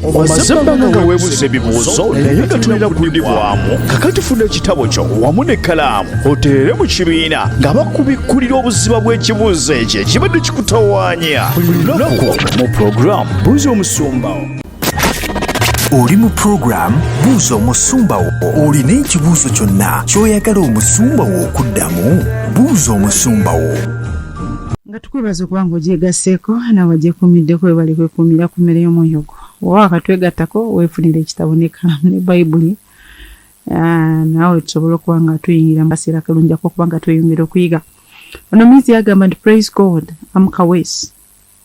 omaze ebbanga nga weebuuza ebibuuzo naye nga tulina kudibwamu kakati funa ekitabo kyo wamu n'ekkalaamu oteere mu kibiina nga bakubikkulira obuziba bw'ekibuuzo ekyo ekibadde kikutawaanya buli lunaku mu pulogulaamu buuza omusumbawo oli mu pulogulaamu buuza omusumba wo olina ekibuuzo kyonna ky'oyagala omusumba wo okuddamu buuza omusumba wo nga tukwebaza okuba nga ogyegasseeko nawe agyekuumidde kwebale kwekuumira ku mmere y'omwoyo gwo oba wakatwegattako weefunira ekitabo n'ekkalaamu ne bayibuli ah, naawe tusobole okuba nga tuyingira mu kaseera kalungiako okuba nga tweyongera okuyiga ono miizi yagamba nti praise god am kawesi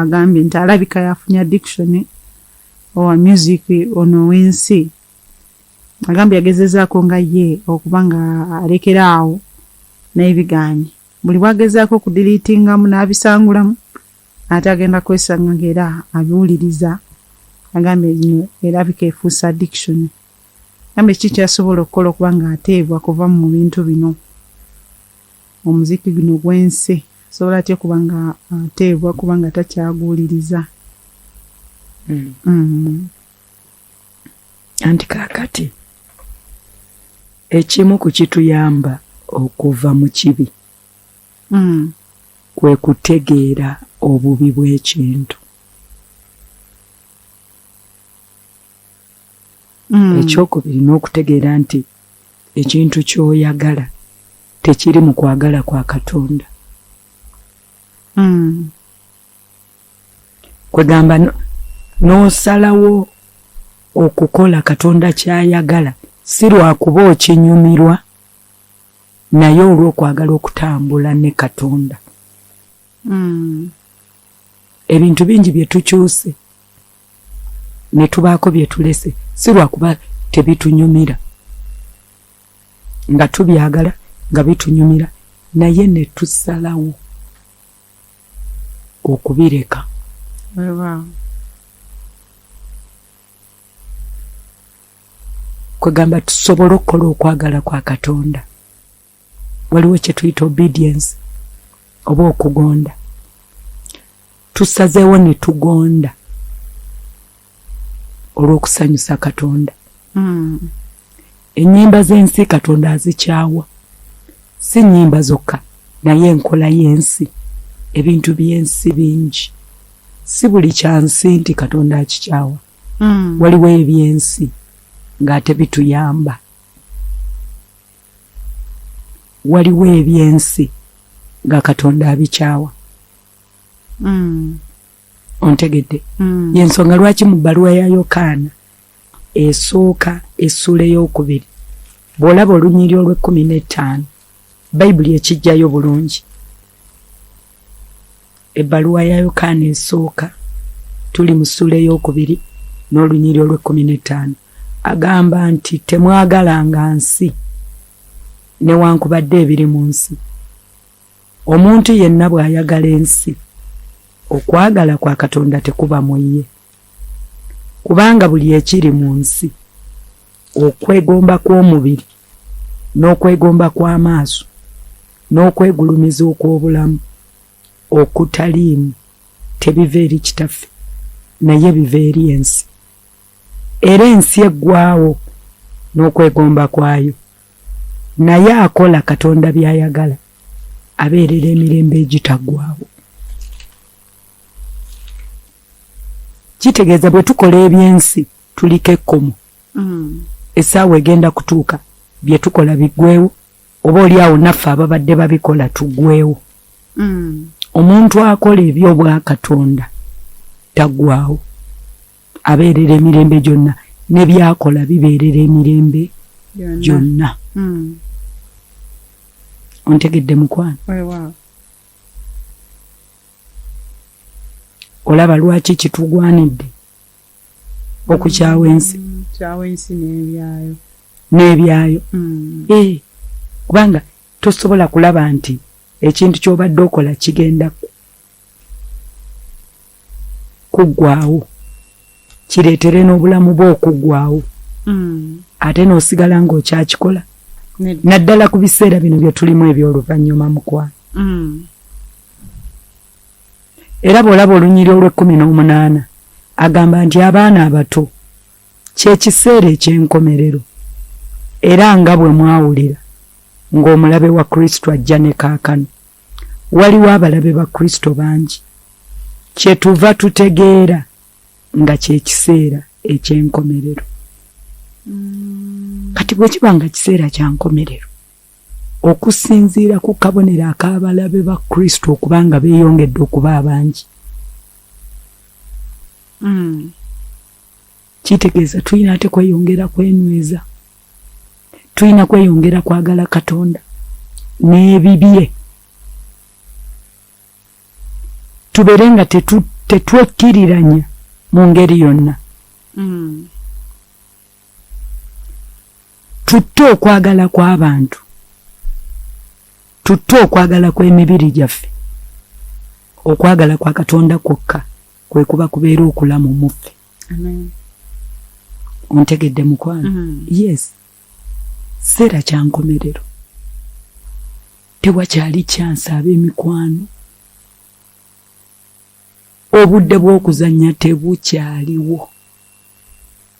agambye nti alabika yafunye addiction owa music ono ow'ensi agambye yagezezaako nga ye okuba nga alekera awo naye bigaanye buli bwagezaako okudiliitingamu n'abisangulamu ate agenda kwesanga ngaera abiwuliriza agambye gino erabika efuusa addiction agambye kiki kyasobola okukola okuba nga ateebwa kuva mu bintu bino Omuziki guno gw'ensi asobola atya okuba nga ateebwa kubanga takyaguwuliriza? Mm. Mm. Anti kaakati ekimu ku kituyamba okuva mu kibi mm. kwe kutegeera obubi bw'ekintu. mm. ekyokubiri n'okutegeera nti ekintu kyoyagala tekiri mu kwagala kwa katonda mm. kwegamba n'osalawo okukola katonda kyayagala si lwakuba okinyumirwa naye olw'okwagala okutambula ne katonda Hmm. ebintu bingi bye tukyuse ne tubaako bye tulese si lwakuba tebitunyumira nga tubyagala nga bitunyumira naye ne tusalawo okubireka kwegamba tusobole okukola okwagala kwa katonda waliwo kyetuyita obedience oba okugonda tusazeewo ne tugonda olw'okusanyusa katonda hmm. ennyimba z'ensi katonda azikyawa si nnyimba zokka naye enkola y'ensi ebintu by'ensi bingi si buli kyansi nti katonda akikyawa hmm. waliwo eby'ensi ng'ate bituyamba waliwo ebyensi nga katonda abikyawa mm. ontegedde mm. yensonga lwaki mu bbaluwa ya yokaana esooka essuula eyokubiri bw'olaba olunyiri olw'ekkumi n'ettaano bayibuli ekijjayo bulungi ebbaluwa ya yokaana esooka tuli mu ssuula ey'okubiri n'olunyiri olw'ekkumi n'ettaano agamba nti temwagalanga nsi newankubadde ebiri mu nsi omuntu yenna bw'ayagala ensi okwagala kwa katonda tekuba mu ye kubanga buli ekiri mu nsi okwegomba kw'omubiri n'okwegomba kw'amaaso n'okwegulumiza okw'obulamu okutaliimu tebiva eri kitaffe naye biva eri ensi era ensi eggwawo n'okwegomba kwayo naye akola katonda by'ayagala abeerera emirembe egitaggwawo kitegeeza bwe tukola eby'ensi tuliko ekkomo mm. essaawa egenda kutuuka bye tukola biggwewo oba oli awo naffe ababadde babikola tugwewo mm. omuntu akola ebyobwakatonda tagwawo abeerera emirembe gyonna nebyakola bibeerera emirembe gyonna mm. ontegedde mukwano olaba lwaki kitugwanidde okukyawa ensi mm, n'ebyayo mm. eh, kubanga tosobola kulaba nti ekintu ky'obadde okola kigenda kuggwawo kireetere n'obulamu bwe okuggwawo mm. ate n'osigala ng'okyakikola naddala ku biseera bino bye tulimu eby'oluvannyuma mukwano era bw'olaba olunyiri olw'ekkumi n'omunaana agamba nti abaana abato ky'ekiseera eky'enkomerero era nga bwe mwawulira ng'omulabe wa kristo ajja ne kaakano waliwo abalabe ba kristo bangi kye tuva tutegeera nga ky'ekiseera eky'enkomerero mm. kati bwe kiba nga kiseera kya nkomerero Okusinziira ku kabonero ak'abalabe ba Kristo okuba nga beeyongedde okuba abangi, hmm. kitegeeza tulina ate kweyongera kwenyweza, tulina kweyongera kwagala Katonda n'ebibye, tubeere nga tetwekkiriranya mu ngeri yonna. Hmm. tutte okwagala kw'abantu tutte okwagala kw'emibiri gyaffe okwagala kwa katonda kwokka kwe kuba kubeera okulamu muffe ontegedde mukwano mm. yes seera kyankomerero tewakyali kyansi ab'emikwano obudde bw'okuzannya tebukyaliwo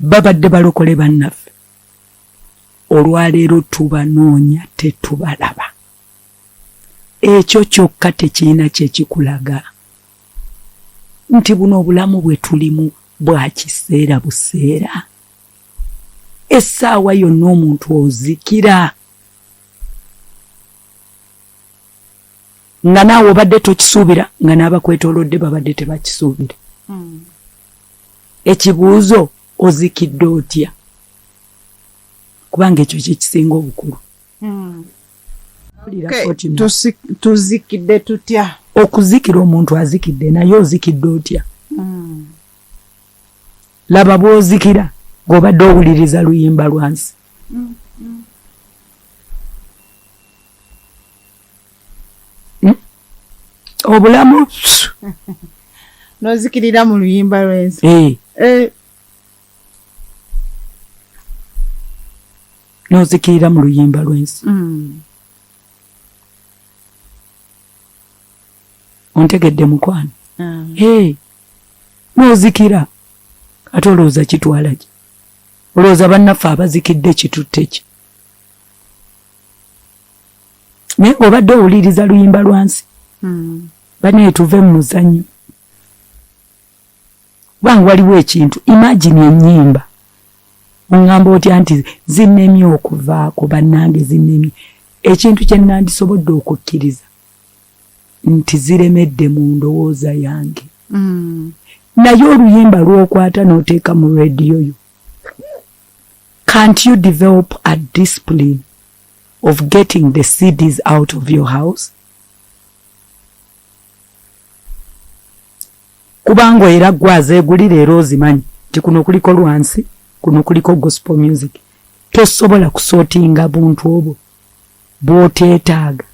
babadde balokole bannaffe olwaleero tubanoonya tetubalaba ekyo kyokka tekirina kyekikulaga nti buno obulamu bwe tulimu bwa kiseera buseera essaawa yonna omuntu ozikira nga naawe obadde tokisuubira nga n'abakwetolodde babadde tebakisuubira hmm. ekibuuzo ozikidde otya kubanga ekyo kyekisinga obukulu hmm. tuzikidde tutya okuzikira omuntu azikidde naye ozikidde otya hmm. laba bwozikira ng'obadde owuliriza luyimba lwansi hmm? obulamu nozikirira mu luyimba lwensi eh. eh. nozikirira mu luyimba lwensi hmm. ontegedde mukwano ah. eh. nozikira ate olowooza kitwala ki olowooza bannaffe abazikidde kitutte ki naye ng'obadde owuliriza luyimba lwansi hmm. banaye tuve mu muzannyo kubanga waliwo ekintu imagine enyimba oŋŋamba otya nti zinnemye okuvaako bannange zinnemye ekintu kye nandisobodde okukkiriza nti ziremedde mu ndowooza yange hmm. naye oluyimba lwokwata n'oteeka mu rediyo yo can't you develop a discipline of getting the CDs out of your house kubanga era gwe azeegulira era ozimanyi nti kuno kuliko lwansi kuno kuliko gospel music tosobola kusootinga buntu obwo bwoteetaaga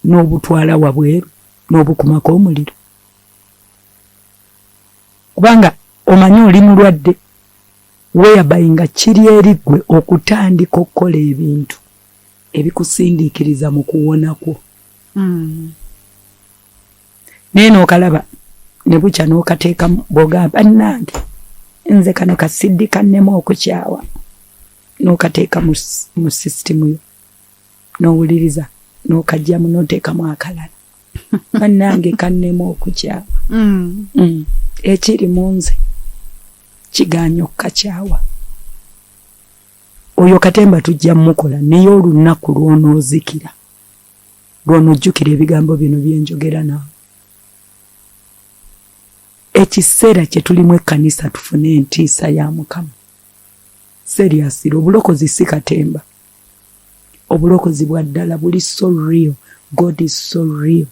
n'obutwala wabweru n'obukumako omuliro kubanga omanyi oli mulwadde whereby nga kiri eri ggwe okutandika okukola ebintu ebikusindiikiriza mu kuwona kwo hmm. naye nookalaba ne bukya n'okateeka bwogamba nnange nze kano kasiddi kannemu okukyawa n'okateeka mu sisitimu yo nowuliriza nokajjamu notekamu akalala banange kannema okukyawa mm. mm. ekiri mu nze kiganya okukakyawa oyo katemba tujja mukola naye olunaku lwonoozikira lwonojjukira ebigambo bino byenjogera naawe ekiseera kyetulimu ekkanisa tufune entiisa ya mukama seriously obulokozi si katemba obulokozi bwa ddala buli so real god is so real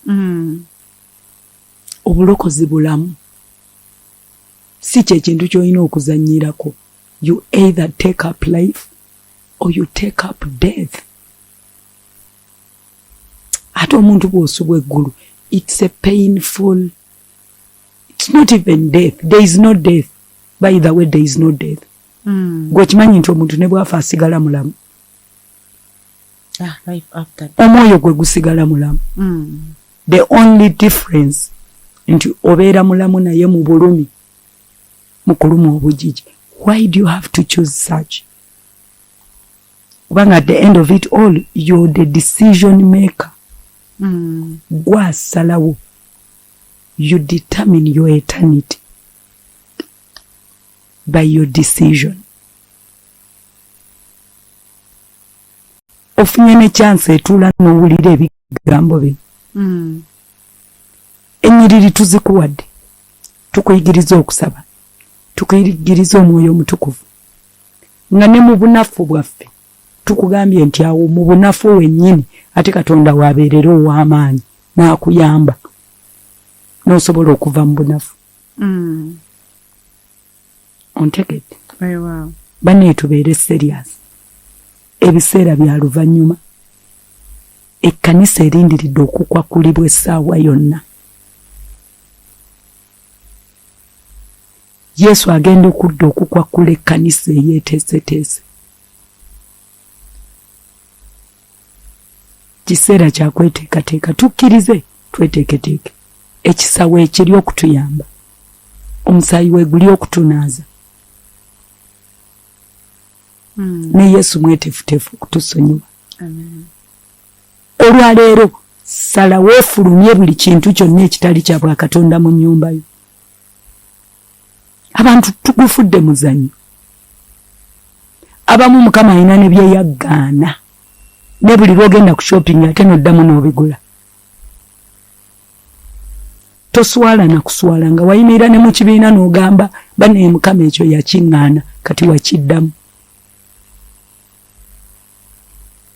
mm. obulokozi bulamu si kyekintu kyolina okuzanyirako you either take up life or you take up death ate omuntu bwosubwa eggulu it's a painful it's not even death there is no death by the way there is no death mm. gwekimanyi nti omuntu ne bwafa asigala mulamu ah, omwoyo gwe gusigala mulamu mm. the only difference nti obeera mulamu naye mu bulumi mu kuluma obujiji why do you have to choose such kubanga at the end of it all you're the decision maker mm. gwasalawo you determine your eternity by your decision ofunye ne chance etula nowulira ebigambo bino mm. enyiriri tuzikuwadde tukuyigiriza okusaba tukuyigiriza omwoyo omutukuvu nga ne mu bunafu bwaffe tukugambye nti awo mu bunafu wennyini ate katonda wabeerera ow'amaanyi n'akuyamba n'osobola okuva mu bunafu mm. ontegedde banne tubeere serious ebiseera bya luvannyuma ekkanisa erindiridde okukwakulibwa essaawa yonna Yesu agenda okudda okukwakkula ekkanisa eyeeteeseteese. Kiseera kya kweteekateeka, tukkirize tweteeketeeke ekisawo ekiri okutuyamba, omusaayi we guli okutunaaza. Hmm. Ne Yesu mwetefuteefu okutusonyiwa. Olwaleero salawo ofulumye buli kintu kyonna ekitali kya bwakatonda mu nnyumba yo. abantu tugufudde muzanyo abamu mukama alina ne byeyaggaana ne buli lwogenda ku shopping ate noddamu n'obigula toswala na kuswala nga wayimirira ne mu kibiina n'ogamba banaye mukama ekyo yakiŋŋaana kati wakiddamu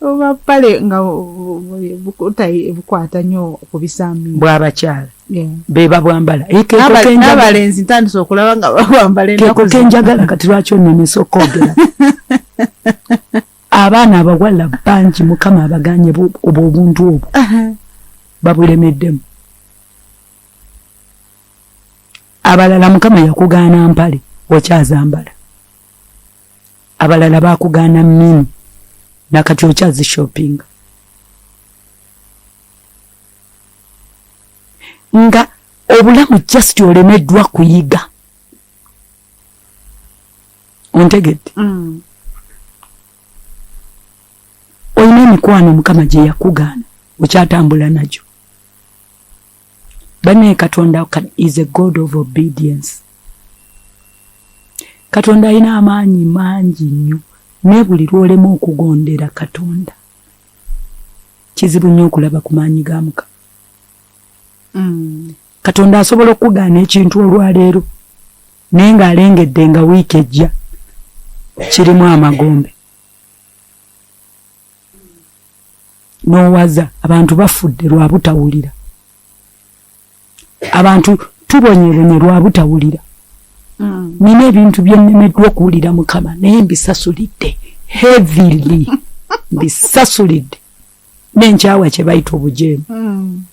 oba pale nga bukwata nyo okubisambi bwabakyala beba bwambala nabalenzi ntandise okulaba nga bwambala keko kenjagala kati lwaki onemesa okwogera abaana abawala bangi mukama abaganye obwo obuntu obwo babulemeddemu abalala mukama yakugaana mpale okyazambala abalala bakugaana mini nakati okyazi shopping nga obulamu just olemeddwa kuyiga ontegedde mm. olina emikwano mukama gyeyakugaana okyatambula nagyo banaye katonda is a god of obedience katonda alina amaanyi mangi nnyo naye buli lwolema okugondera katonda kizibu nnyo okulaba ku maanyi ga muka mm. katonda asobola okukugaana ekintu olwaleero naye ng'alengedde nga wiiki ejja kirimu amagombe n'owaza abantu bafudde lwa butawulira abantu tubonyebonye lwa butawulira mm. nina ebintu byennemeddwa okuwulira mukama naye mbisasulidde heavily mbisasulidde nenkyawa kye bayita obujeemu mm.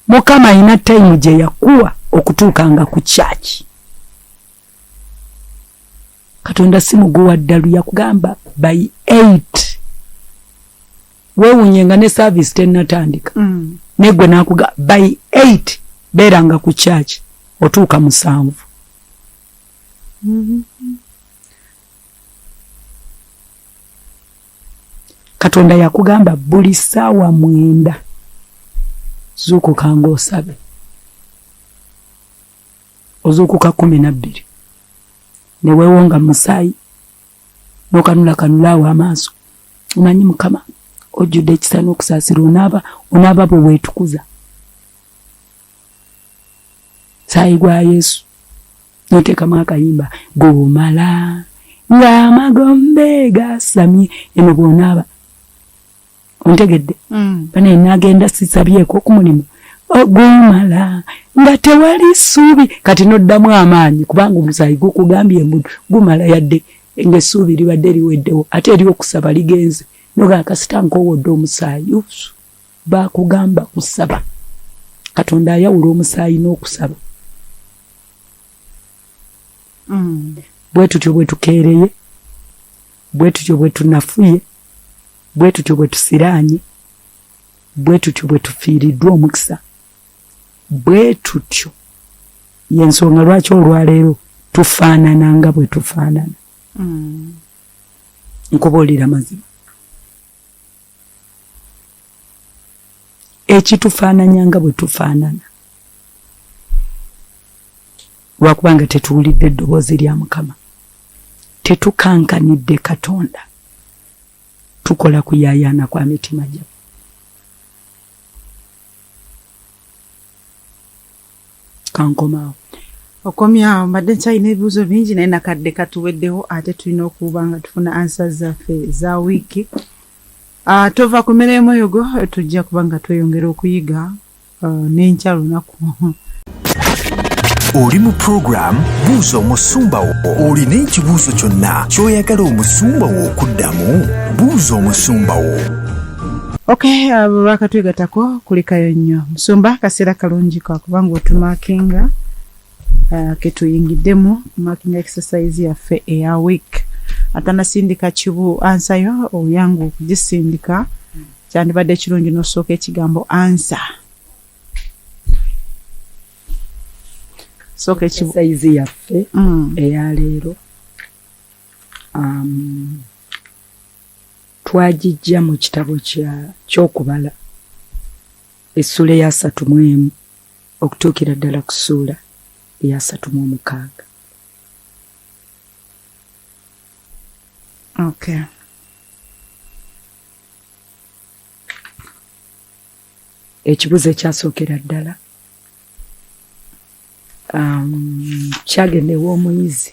mukama alina tayimu gye yakuwa okutuukanga ku kyaki katonda si muguwa ddalu yakugamba by 8 wewunye nga ne saavisi tennatandika mm. negwe nakuga by 8 beeranga ku kyaki otuuka musanvu mm -hmm. katonda yakugamba buli saawa mwenda zuukuka nga osabe ozuukuka kumi nabbiri neweewo nga musaayi nokanula kanulaawo amaaso omanyi mukama ojjudde ekisa n'okusaasira onaaba onaaba bwe weetukuza saayi gwa yesu notekamu akayimba gomala ng'amagombe gasamye eno bwonaaba ontegedde mm. banaye nagenda sisabyeko ku mulimu ogumala nga tewali ssuubi kati noddamu amaanyi kubanga omusaayi gukugambye mbu gumala yadde ngaessuubi libadde liweddewo ate eri okusaba ligenze noga kasita nkowodde omusaayi Baakugamba kusaba. Katonda ayawula omusaayi n'okusaba. Mm. Bwe tutyo bwe tukeereye, bwe tutyo bwe tunafuye, bwe tutyo bwe tusiraanye, bwe tutyo bwe tufiiriddwa omukisa, bwe tutyo y'ensonga lwaki olwaleero tufaanana nga bwe tufaanana. Mm. Nkubuulira mazima. ekitufaananya nga bwe tufaanana lwakuba nga tetuwulidde eddoboozi lya mukama tetukankanidde katonda tukola kuyayaana kwa mitima gyaffe kankomawo okomyawo mbadde nkyalina ebibuuzo bingi naye nakadde katuweddewo ate tulina okuba nga tufuna ansa zaffe za wiiki ah, tova ku mmere y'omwoyogo tujja kuba nga tweyongera okuyiga ah, n'enkya lunaku oli mu pulogulaamu buuza omusumba wo olina ekibuuzo kyonna ky'oyagala omusumba wo okuddamu buuza omusumba wo ok abo uh, bakatwegatako kulikayo nnyo musumba akaseera kalungi kakuba nga otumakinga uh, ketuyingiddemu makinga exercise yaffe eya week atanasindika kibu ansayo oyangu okugisindika kyandibadde ekirungi nosooka ekigambo ansa sooka ekibusayizi yaffe mm. eyaleero um, Twagijja mu kitabo kya ky'okubala essuula eyasatu mu emu okutuukira ddala ku ssuula eyasatu mu omukaaga. Okay. Ekibuzo ekyasookera ddala um, kyagenda ew'omuyizi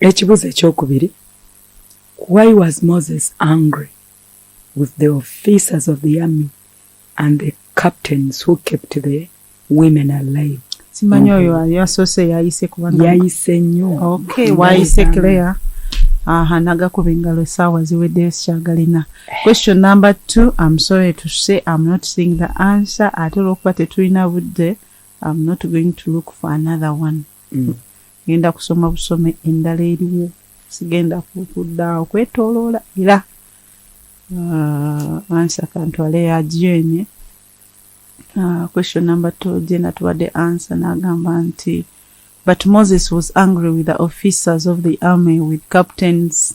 ekibuzo ekyokubiri why was moses angry with the officers of the army and the captains who kept the women alive simanyi oyo mm-hmm. yasoose yayise kubanga yayise nnyo okay wayise claire aha nagakuba engalo esaawa ziweddeyo sikyagalina question number two am sorry to say am not seeing the answer ate olwokuba tetulina budde am not going to look for another one mm. genda kusoma busome endala eriwo sigenda kukuddaawo kwetoloola era uh, ansa kantwale yajenye uh, question number two jena tubadde ansa n'agamba nti but moses was angry with the officers of the army with captains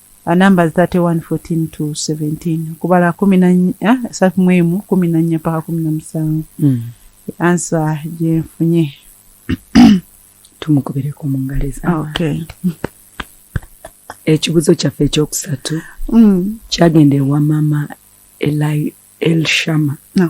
uh, numbers 31 14 to 17 okubala kumi na ah, satu mwemu kumi na nnya paka kumi na musanvu mm. ansa gyenfunye tumukubireku mu ngalo ezabantu ekibuzo kyaffe ekyokusatu mm. kyagenda ewa mama elshama no.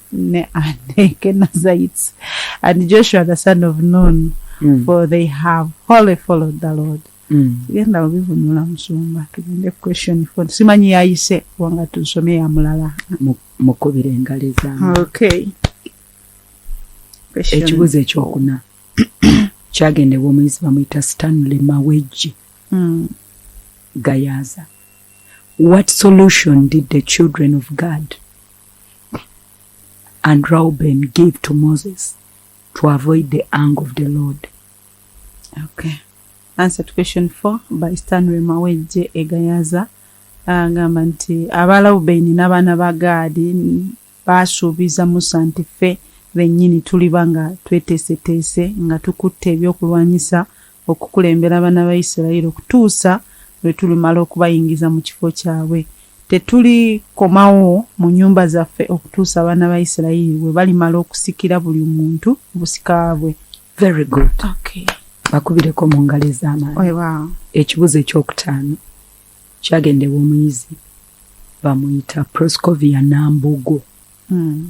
ne and Kenazites and Joshua the son of Nun mm. for they have wholly followed the Lord mm. tugenda obivunula musumba tugende question for simanyi yayise kubanga tusome ya mulala mukubira engalo ezamu okay ekibuzo ekyokuna kyagendebwa omuyizi bamuyita stanley mawejji mm. gayaza what solution did the children of god And Reuben gave to Moses to avoid the anger of the Lord. Okay. Answer to question four by Stanley Mawejje Egayaza. Agamba nti aba Reuben n'abaana ba Gaadi baasuubiza Musa nti ffe bennyini tuliba nga tweteeseteese nga tukutte ebyokulwanyisa okukulembera abana ba Isirayiri okutuusa lwe tulimala okubayingiza mu kifo kyabwe. Tetuli komawo mu nyumba zaffe okutuusa abana ba Isirayiri bwe balimala okusikira buli muntu obusika bwe. Very good. Okay. Bakubireko mu ngalo ez'amaanyi. Weba. Ekibuzo ekyokutaano kyagendewa omuyizi bamuyita Proscovia Nambogo. Mm.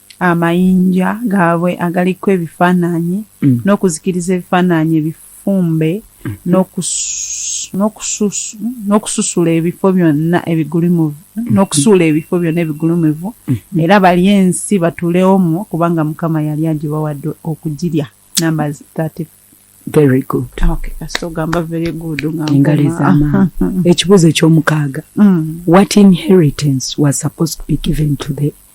amayinja gaabwe agaliko ebifaananyi mm. n'okuzikiriza ebifaananyi ebifumbe mm. n'okususula ebifo byonna ebigulumivu mm. n'okusuula ebifo byonna ebigulumivu era bali ensi batulewomu kubanga mukama yali agibawadde okugirya namba 34 very good okay kasita ogamba very good ngengalo ezamaani ekibuuzo ekyomukaaga mm. what inheritance was supposed to be given to the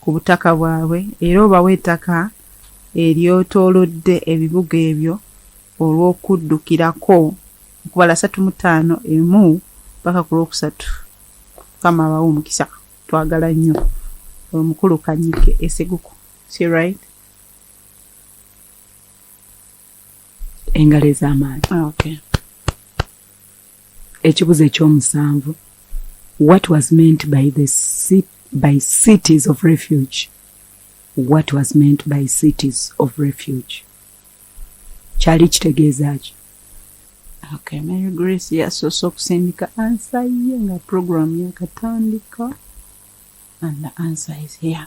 ku butaka bwabwe era obawe ettaka eryetoolodde ebibuga ebyo olw'okuddukirako okubala asatu mu ttaano emu mpaka ku lwokusatu mukama abawe omukisa twagala nnyo omukulu kanyike eseguku si right engalo ez'amaanyi ah, okay. ekibuzo ekyomusanvu what was meant by the sit, by cities of refuge what was meant by cities of refuge kyali kitegeeza ki okay, mary grace yasoose okusindika ansa ye nga programu yakatandika and the answer is here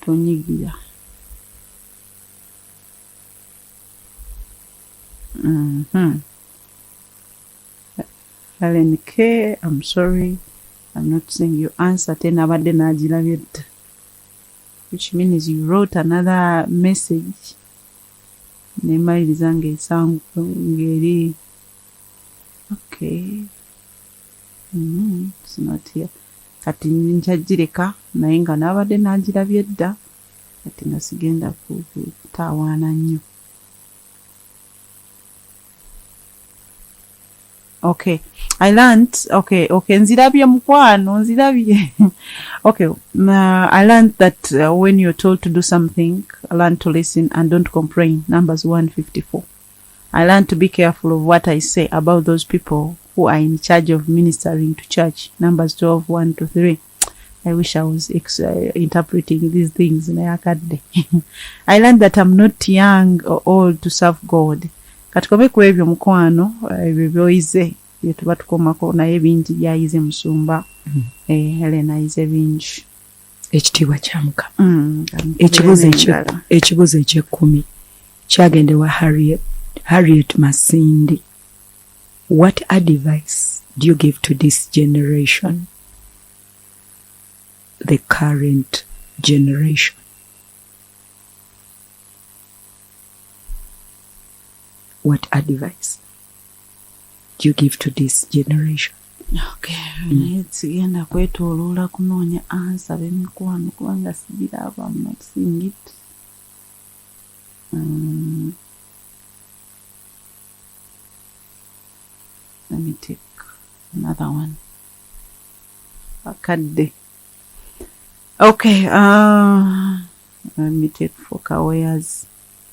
Tonyigira. Mm -hmm. Helen K, I'm sorry. I'm not seeing your answer. Tena abadde n'agirabye dda. Which means you wrote another message. Nemaliriza ng'esangu ng'eri okay mm, sinatia kati njajireka naye nga nabadde nagirabye dda kati nga sigenda kutaawaana nnyo okay i learned okay okay nzirabye mukwano nzirabye okay uh, i learned that uh, when you're told to do something learn to listen and don't complain numbers 154 I learn to be careful of what I say about those people who are in charge of ministering to church. Numbers 12, 1 to 3. I wish I was ex- uh, interpreting these things in Ayakadde. I learned that I'm not young or old to serve God. Katukome ku ebyo mukwano uh, ebyo byoyize bye tuba tukomako naye bingi byayize musumba mm-hmm. eh, Helen ayize bingi ekitiibwa kya mukama mm, ekibuzo ekyekkumi kyagenda ewa harriet masindi what advice do you give to this generation the current generation what advice you give to this generation okay mm. naye sigenda kwetoloola kunoonya ansa bemikwano kubanga sigira abamu not seeing it um, let me take another one akadde okay uh, let me take four kawayers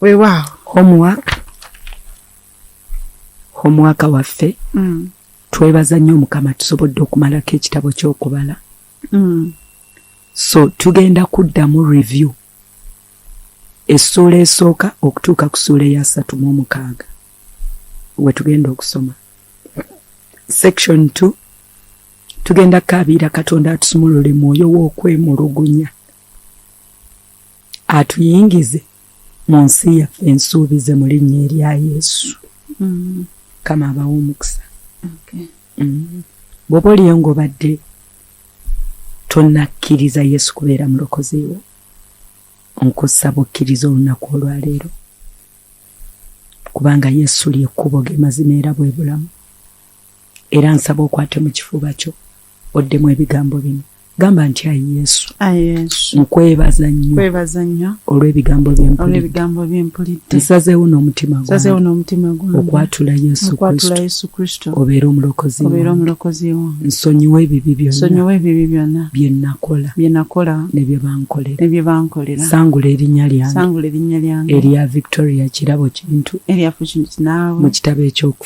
weewaawo homework homework waffe mm. twebaza nnyo mukama tusobodde okumalako ekitabo ky'okubala mm. so tugenda kuddamu review essuula esooka okutuuka ku suula eya satu mu omukaaga we tugenda okusoma section t tugenda kukaabiira katonda atusumulule mwoyo w'okwemulugunya atuyingize mu nsi yaffe ensuubize mu linnya erya yesu mm. kama abawa omukisa mm. bwoba oliyo ngaobadde tonakkiriza yesu kubeera mulokoziwo nkusaba okkiriza olunaku olwaleero kubanga yesu lyekkubo ge mazima era bwe bulamu era nsaba okwate mu kifuba kyo oddemu ebigambo bino gamba nti ayi yesu nkwebaza nnyo olw'ebigambo byempulidde nsazeewo n'omutima gwange okwatula yesu kristo obeere omulokozi wange nsonyiwa ebibi byonna bye nakola ne bye bankolera sangula erinnya lyange erya victoria kirabo kintu mu kitabo ekyoku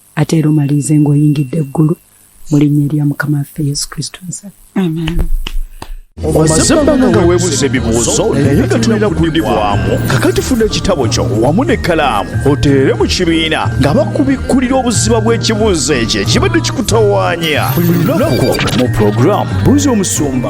ate era omalirize ng'oyingidde eggulu mu linnya erya mukama waffe yesu kristo nsa amen omaze ebbanga nga weebuuza ebibuuzo naye nga tulina kuddibwamu kakati funa ekitabo kyo wamu n'ekkalaamu oteere mu kibiina nga bakubikkulira obuziba bw'ekibuuzo ekyo ekibadde kikutawaanya buli lunaku mu pulogulaamu buuza omusumba